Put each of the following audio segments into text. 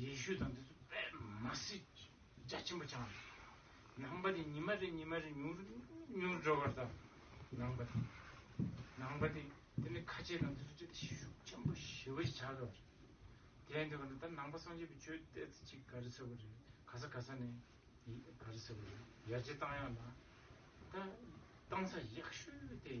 ཡེ་ཤུ་དང་དེ་ཚོ་པད་མ་སྲིད་རྒྱ་ཆེན་པོ་འཆང་དང། ནང་པ་དེ་ཉི་མ་རེ་ཉི་མ་རེ་མྱུར་མྱུར་འགྲོ་བར་དང། ནང་པ་དེ། ནང་པ་དེ། དེ་ནི་ཁ་ཆེ་དང་དེ་ཚོ་ཅི་སྟེ་ཤུགས་ཆེན་པོ་ཞི་བ་ཞིག་བྱ་དགོས་པ་རེད། དེ་ནི་ད་ནང་པ་སངས་རྒྱས་པའི་ཆོས་གཏད་ཚེ་ཅིག་ག་རེ་ཟེར་བ་རེད་ག་ས་ག་ས་ནས་ག་རེ་ཟེར་བ་རེད་ཡར་རྗེས་བཏང་ཡག་ལ། ད་བཏང་ས་ཡག་ཤོས་དེ།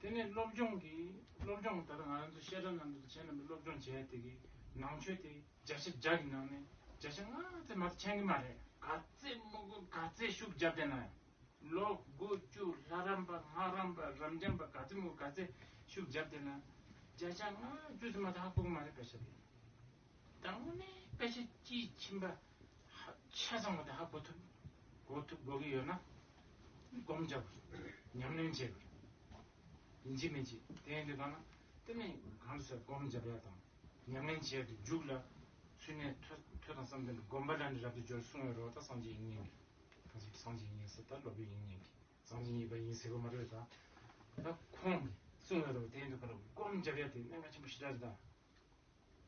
དེ་ནས་སློབ་སྦྱོང་གི་སློབ་སྦྱོང་ལྟར་ང་རང་ཚོ་བཤད་གྲྭ་ནང་དུ་བྱས་རྣམ་པའི་སློབ་སྦྱོང་བྱས་དེ་གི་ནང་ཆོས་དེ་བརྒྱ་ཆ་བརྒྱ་གི་ནང་ནས་བརྒྱ་ཆ་ལྔ་ཙམ་མ་མཁྱེན་གི་མ་རེད། ག་ཚད་དམུ་དགོན་ག་ཚད་ཤུགས་རྒྱབ་བསྡད་ན་ཡང་ལོ་དགུ་བཅུ་ལྷ་རམས་པ་སྔགས་རམས་པ་རབ་འབྱམས་པ་ག་ཚད་དམུ་ག་ཚད་ཤུགས་རྒྱབ་བསྡད་ན་བརྒྱ་ཆ་ལྔ་བཅུ་ཙམ་མ་ཐག་ཧ་གོ་གི་མ་རེད་བེད་ཤ་དེ། དང་པོ་ནི་སྐད་ཆ་དཔྱིས་ཕྱིན་པ་ཆ་ཚང་བ་དེ་ཧ་གོ་ཐུབ་གོ་ཐུབ་གོ་གི་ཡོད་ན་སྒོམ་བྱ་དགོས་ཉམས་ལེན་བྱེད་དགོས། ཡིན་གཅིག་མིན་གཅིག་དེ་ཡིན་དུས་ཐོག་ན་དེ་ནི་གང་ཟེར་སྒོམ་བྱ་བ་དང་ཉམས་ལེན་བྱེད་དུ་འཇུག་ལ་ཚུལ་ནི་ཐོས་དང་བསམ་གཏན་དུ་སྒོམ་པ་ལ་ནི་རབ་ཏུ་སྦྱོར་གསུང་བའི་རོ་ད་སངས་རྒྱས་ཡིན་ཉན་གི་ད་ཟེར་སངས་རྒྱས་ཡིན་ཟེར་ད་སློབ་དཔོན་ཡིན་ཉན་གི་སངས་རྒྱས་ཡིན་པ་ཡིན་ཟེར་གོ་མ་རོད་ད་ད་ཁོང་གི་གསུང་བའི་རོ་དེ་ཡིན་དུས་ཁོ་ལ་སྒོམ་བྱ་བ་དེ་གནད་འགག་ཆེན་པོ་ཞེ་དྲག་རེད་ད།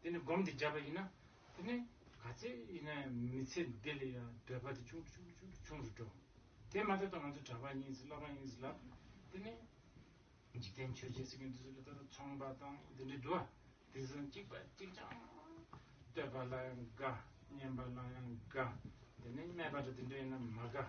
དེ་ནི་སྒོམ་དེ་བརྒྱབ་པ་ཡིན་ན་དེ་ནི་ག་ཚད་ཡིན་ན་མི་ཚེ་འདི་ལ་ཡང་འདོད་པ་དེ་ཆུང་དུ་ཆུང་དུ་ཆུང་དུ་ཆུང་དུ་འགྲོ། དེ་མ་ཐག་ཏུ་ང་ཚོ་གྲྭ་པ་ཡིན་ཟེར་སློབ་མ་ཡིན་ཟེར་ལབ་དེ་ནི་འཇིག་རྟེན་ཆོས་བྱེད་ཟེར་མཁན་དེ་ཚོ་ལ་ལྟ་ན་ཚོང་པ་དང་དེ་འདྲའི་འགྲོ། དེ་བཞིན་གཅིག་པ་གཅིག་ཅང་བསྟོད་པ་ལ་ཡང་དགའ་བསྙེན་པ་ལ་ཡང་དགའ་དེ་ནི་སྨད་པ་དང་དེ་འདྲ་ཡིན་ན་མ་དགའ།